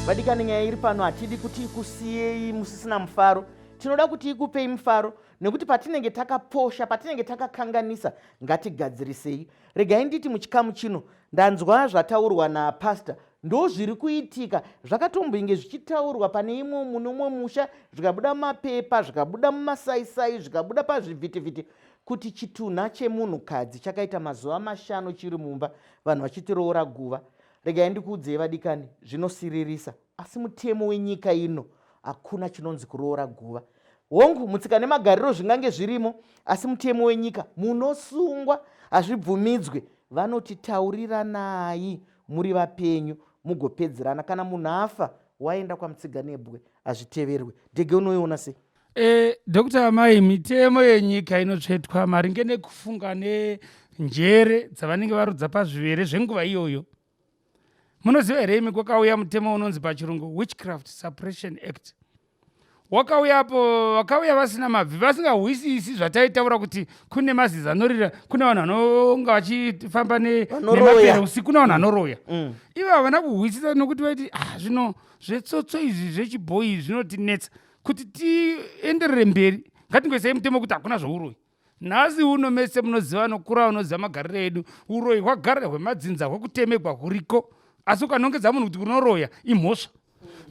vadikani nyaya iri pano hatidi kuti ikusiyei musisina mufaro tinoda kuti ikupei mufaro nekuti patinenge takaposha patinenge takakanganisa ngatigadzirisei regai nditi muchikamu chino ndanzwa zvataurwa napastor ndo zviri kuitika zvakatomboinge zvichitaurwa pane imwe muno umwe musha zvikabuda mumapepa zvikabuda mumasaisai zvikabuda pazvivhitivhiti Kuti chitunha chemunhukadzi chakaita mazuva mashanu chiri mumba vanhu vachitiroora guva, regai ndikuudzei vadikani, zvinosiririsa. Asi mutemo wenyika ino hakuna chinonzi kuroora guva. Hongu, mutsika nemagariro zvingange zvirimo, asi mutemo wenyika munosungwa, hazvibvumidzwe. Vanoti tauriranai muri vapenyu mugopedzerana. Kana munhu afa waenda kwamutsiganebwe, hazviteverwe. Dhege unoiona sei? Eh, Dr. Amai, mitemo yenyika inotsvetwa maringe nekufunga nenjere dzavanenge varudza pazvivere zvenguva iyoyo. Munoziva here imi kwakauya mutemo unonzi pachirungu Witchcraft Suppression Act. Wakauya apo vakauya vasina mabvi vasingahwisisi zvataitaura kuti kune mazizi anorira kune vanhu vanonga vachifamba ne- Vanoroya. nemapere usiku kune vanhu anoroya. Mm. Ivo havana kuhwisisa nokuti vaiti ah zvino zvetsotso izvi zvechibhoyi zvinotinetsa. kuti tienderere mberi ngatingoisei mutemo kuti hakuna zvouroyi nhasi uno mese munoziva anokura unoziva magariro edu uroyi hwagara hwemadzinza hwekutemegwa huriko asi ukanongedza munhu kuti unoroya imhosva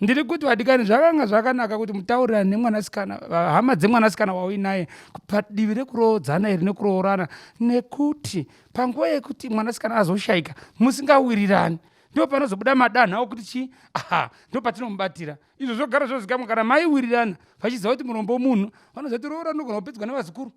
ndiri kuti vadikani zvakanga zvakanaka kuti mutaurirane nemwanasikana hama dzemwanasikana wauinaye padivi rekuroodzana iri nekuroorana nekuti panguva yekuti mwanasikana azoshayika musingawirirani ndo panozobuda madanha okuti chii aha ndo patinomubatira izvo zvogara zvozikamwa kana mai wirirana vachiziva kuti murombo womunhu vanoziva kuti roora rinogona kupedzwa nevazukuru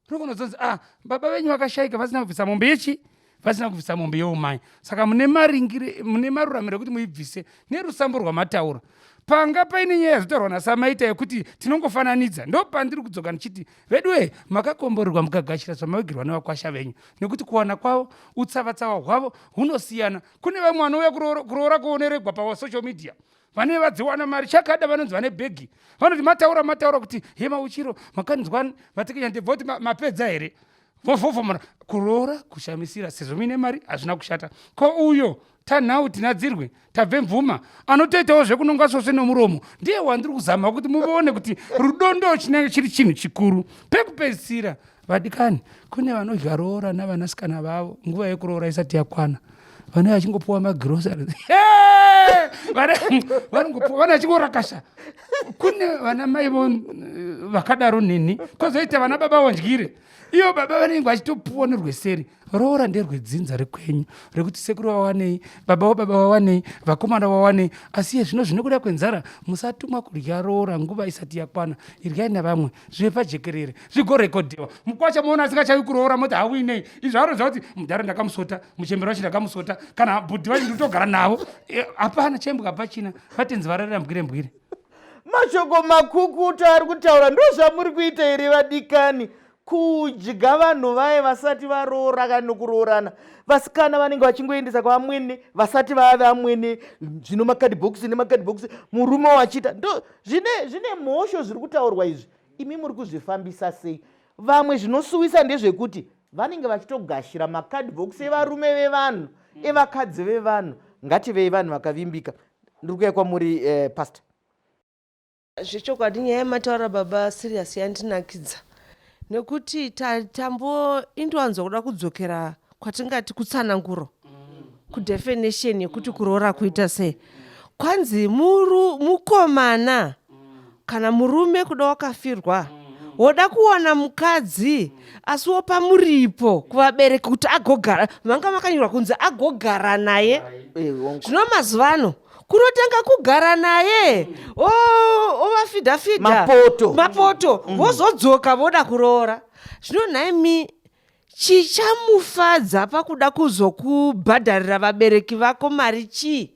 rinogona kuzonzi ah baba venyu vakashaika vasina kubvisa mombe yechi vasina kubvisa mombe yeumai saka mune maringire mune maruramiro ekuti muibvise nerusambo rwamataura panga paine nyaya yazotaurwa nasamaita yekuti tinongofananidza ndo pandiri kudzoka ndichiti veduwe makakomborerwa mukagashira zvamavigirwa nevakwasha venyu nekuti kuwana kwavo utsavatsava hwavo hunosiyana kune vamwe vanouya kuroora kuoneregwa pasocial media vane vadziwana mari chakada vanonzi vane bhegi vanoti mataura mataura kuti he mauchiro makanzwa matekenya ndebva kuti mapedza here vovhovomora kuroora kushamisira sezvo muine mari hazvina kushata ko uyo tanhau tinadzirwe tabve mvuma anotoitawo zvekunonga svosve nomuromo ndiye wandiri kuzama kuti muone kuti rudo ndo chinenge chiri chinhu chikuru pekupedzisira Vadikani, kune vanodya roora navanasikana vavo nguva yekuroora isati yakwana vanenge vachingopuwa magrosari vanongopuwa vana vachingorakasha kune vana mai vo eh, vakadaro neni kozoita vana baba wandyire iyo baba vanenge vachitopuwa norweseri roora nderwedzinza rekwenyu rekuti sekuru vawanei baba wababa vawanei vakomana vawanei asi iye zvino zvinokuda kwenzara musatumwa kudya roora nguva isati yakwana iryai nevamwe zvive pajekerere zvigorekodhewa mukwacha moona asingachavi kuroora moti hauinei izvo aroza kuti mudhara ndakamusota muchemberi wacho ndakamusota kana bhudhi vacho nditogara navo eh, hapana e, chembwa pachina vatenzi vararira mbwire mbwire mashoko makukuta ari kutaura ndozvamuri kuita here vadikani kudya vanhu vaye vasati varoora kana nokuroorana vasikana vanenge vachingoendesa kwavamwene vasati vave amwene zvino makadhibhokisi nemakadhibhokisi murume wachiita ndo zvine zvine mhosho zviri kutaurwa izvi imi muri kuzvifambisa sei vamwe zvinosuwisa ndezvekuti vanenge vachitogashira makadhibhokisi evarume vevanhu evakadzi vevanhu ngativei vanhu vakavimbika ndiri kuya kwamuri eh, pastor Zvechokwadi nyaya yamataura baba serious yandinakidza nekuti tambo indowanzwa kuda kudzokera kwatingati kutsananguro kudefinition yekuti kuroora kuita sei kwanzi muru, mukomana kana murume kuda wakafirwa woda kuwana mukadzi asi wopa muripo kuvabereki kuti agogara vanga makanyorwa kunzi agogara naye zvino mazuva ano kunotanga kugara naye ovafidhafidha mapoto mapoto mm. vozodzoka voda kuroora zvino nhaimi chichamufadza pakuda kuzokubhadharira vabereki vako mari chii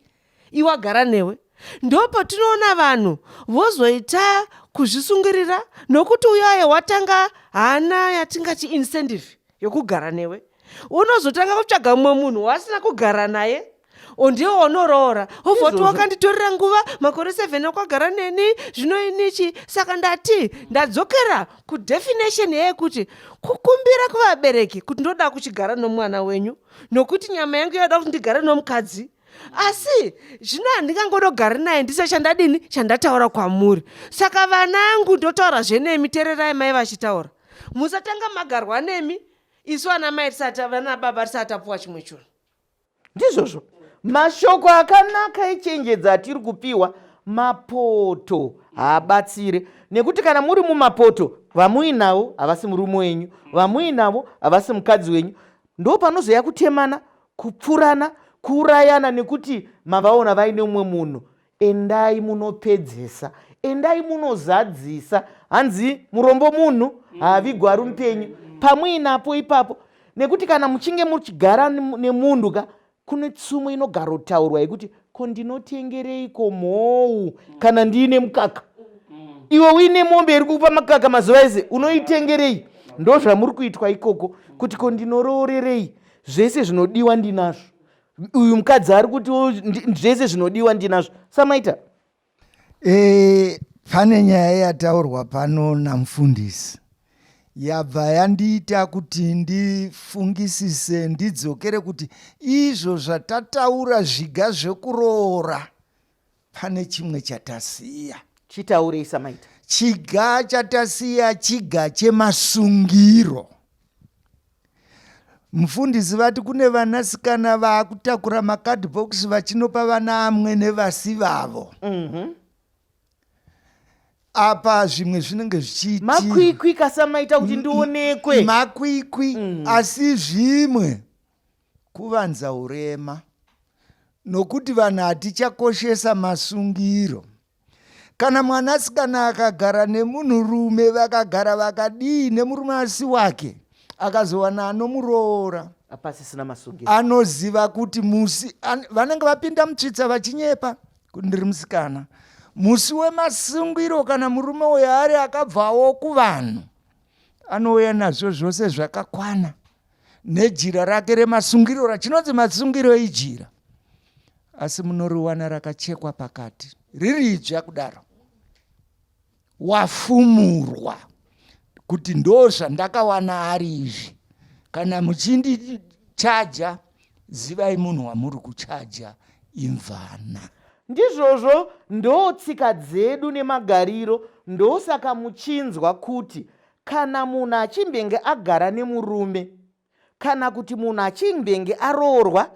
iwagara newe ndo patinoona vanhu vozoita kuzvisungirira nokuti uyo aye watanga haana yatingati incentive yokugara newe unozotanga kutsvaga mumwe munhu waasina kugara naye ondiwo wanoroora obva kuti wakanditorera nguva makore seven okwagara neni zvino inichi saka ndati ndadzokera kudefinition yeyekuti kukumbira kuvabereki kuti ndoda kuchigara nomwana wenyu nokuti nyama yangu yoda kuti ndigare nomukadzi asi zvino handingangodogari naye ndise chandadini chandataura kwamuri saka vana angu ndotaura zvenemi tererai mai vachitaura musatanga magarwa nemi isu ana mai tisatavana baba tisatapuwa chimwe chunhu ndizvozvo mashoko akanaka echenjedza atiri kupiwa mapoto haabatsire nekuti kana muri mumapoto vamuinawo havasi murume wenyu vamuinavo havasi mukadzi wenyu ndo panozoya kutemana kupfurana kuurayana nekuti mavaona vaine umwe munhu endai munopedzesa endai munozadzisa hanzi murombo munhu haavigwa ari mupenyu pamuinapo ipapo nekuti kana muchinge muchigara nemunhu ka kune tsumo inogarotaurwa yekuti ko ndinotengereiko mhou kana ndiine mukaka iwe uine mombe iri kupa makaka mazuva ese unoitengerei ndo zvamuri kuitwa ikoko kuti ko ndinoroorerei zvese zvinodiwa ndinazvo uyu mukadzi ari kuti zvese zvinodiwa ndinazvo samaita E, pane nyaya yataurwa pano namfundisi yabva yandiita kuti ndifungisise ndidzokere kuti izvo zvatataura zviga zvekuroora pane chimwe chatasiya chitaurei samaita chiga chatasiya chiga chemasungiro Mufundisi vati kune vanasikana vaakutakura macardbox vachinopa vana amwene vasi vavo mm -hmm. apa zvimwe zvinenge zvichiitimakwikwi kasamaita kuti ndionekwe makwikwi mm. asi zvimwe kuvanza urema nokuti vanhu hatichakoshesa masungiro kana mwanasikana akagara nemunhurume vakagara vakadii nemurume asi wake akazowana anomuroora pasisina masungiro anoziva kuti musi an, vanenge vapinda mutsvitsa vachinyepa kuti ndiri musikana musi wemasungiro kana murume uyo ari akabvawo kuvanhu anouya nazvo zvose zvakakwana nejira rake remasungiro rachinonzi masungiro ijira asi munoriwana rakachekwa pakati riri idzva kudaro wafumurwa kuti ndo zvandakawana ari izvi kana muchindichaja zivai munhu wamuri kuchaja imvana ndizvozvo ndo tsika dzedu nemagariro ndosaka muchinzwa kuti Kana munhu achimbenge agara nemurume kana kuti munhu achimbenge aroorwa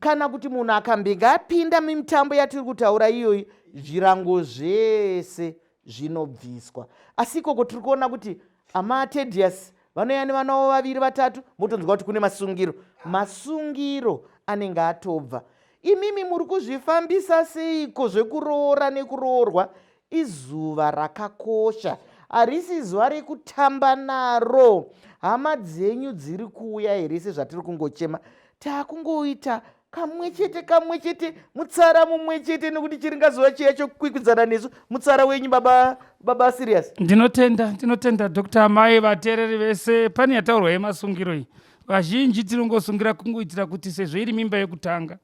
kana kuti munhu akambenge apinda mimitambo yatiri kutaura iyoyi zvirango zvese zvinobviswa asi ikoko tiri kuona kuti amatedius vanouya nevana vavo vaviri vatatu motonzwa kuti kune masungiro masungiro anenge atobva imimi muri kuzvifambisa seiko zvekuroora nekuroorwa Izuva rakakosha harisi zuva rekutamba naro hama dzenyu dziri kuuya here sezvatiri kungochema taakungoita kamwe chete kamwe chete mutsara mumwe chete nekuti chiringazuva chiya chokwikwidzana nesu mutsara wenyu baba baba serious ndinotenda ndinotenda dr mai vateereri vese pane yataurwa yemasungiro iyi vazhinji tinongosungira kungoitira kuti sezvo iri mimba yekutanga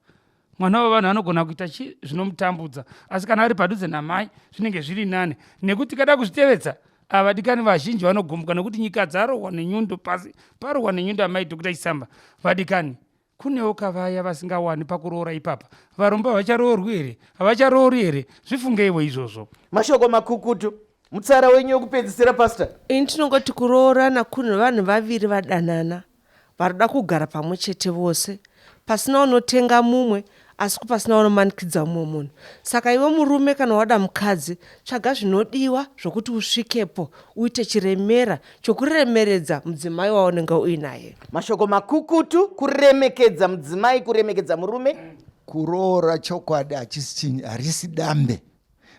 mwana wevanhu anogona kuita chii zvinomutambudza asi kana ari padhuze namai zvinenge zviri nani nekuti kada kuzvitevedza avadikani vazhinji vanogumbuka nekuti nyika dzarohwa nenyundo pasi parohwa nenyundo amai dhokuta chisamba vadikani kunewo kavaya vasingawani pakuroora ipapa varombo havacharoorwi here havacharoori here zvifungeiwo izvozvo mashoko makukutu mutsara wenyu wekupedzisira pasta ini tinongoti kuroorana kunhu vanhu vaviri vadanana Vanoda kugara pamwe chete vose pasina unotenga mumwe asi kupasina unomanikidza mumwe munhu. Saka iwe murume kana wada mukadzi tsvaga zvinodiwa zvokuti usvikepo uite chiremera chokuremeredza mudzimai waunenge uinaye. Mashoko makukutu, kuremekedza mudzimai, kuremekedza murume. Kuroora chokwadi hachisi chinhu, harisi dambe.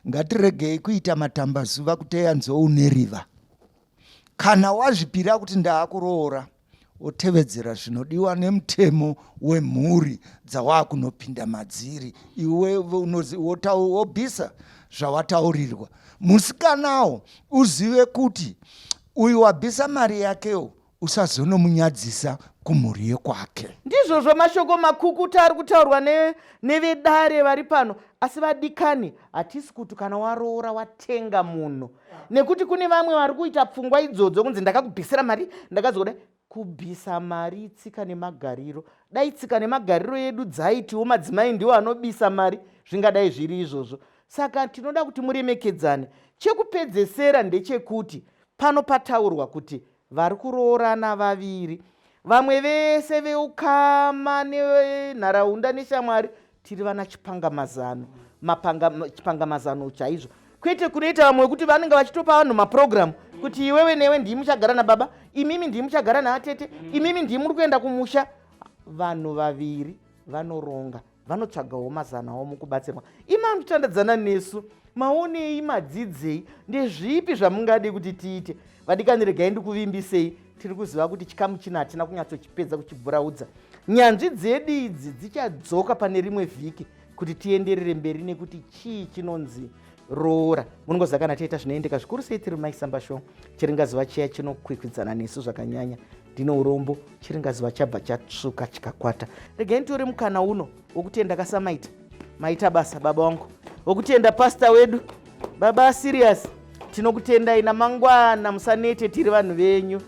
Ngatiregei kuita matambazuva kuteya nzou neriva. kana wazvipira kuti ndaakuroora otevedzera zvinodiwa nemutemo wemhuri dzawaakunopinda madziri iwe wobvisa zvawataurirwa musikanawo uzive kuti uyu wabvisa mari yakewo usazonomunyadzisa kumhuri yekwake ndizvozvo mashoko makukuta ari kutaurwa nevedare ne vari pano asi vadikani hatisi kuti kana waroora watenga munhu nekuti kune vamwe vari kuita pfungwa idzodzo kunzi ndakakubhisira mari ndakazoda kubvisa mari itsika nemagariro dai tsika nemagariro yedu dzaitiwo madzimai ndiwo anobisa mari zvingadai zviri izvozvo saka tinoda kuti muremekedzane chekupedzesera ndechekuti pano pataurwa kuti vari kuroorana vaviri vamwe vese veukama nenharaunda neshamwari tiri vana chipangamazano chipangamazano chaizvo kwete kunoita vamwe wekuti vanenge vachitopa vanhu maprogramu kuti iwewe newe ndii muchagara nababa imimi ndii muchagara naatete imimi ndii muri kuenda kumusha vanhu vaviri vanoronga vanotsvagawo mazano avo mukubatsirwa imam titandadzana nesu maonei madzidzei ndezvipi zvamungade kuti tiite vadikani regai ndikuvimbisei tiri kuziva kuti chikamu chino hatina kunyatsochipedza kuchibhuraudza nyanzvi dzedu idzi dzichadzoka pane rimwe vhiki kuti tienderere mberi nekuti chii chinonzi roora munongoziva kana tiita zvinoendeka zvikuru sei tiri maisamba show chiringazuva chiya chinokwikwidzana nesu zvakanyanya ndine urombo chiringazuva chabva chatsvuka chikakwata regai nditori mukana uno wokuti endakasamaita maita basa baba wangu wokutenda pasta wedu baba serious tinokutendai namangwana musanete tiri vanhu venyu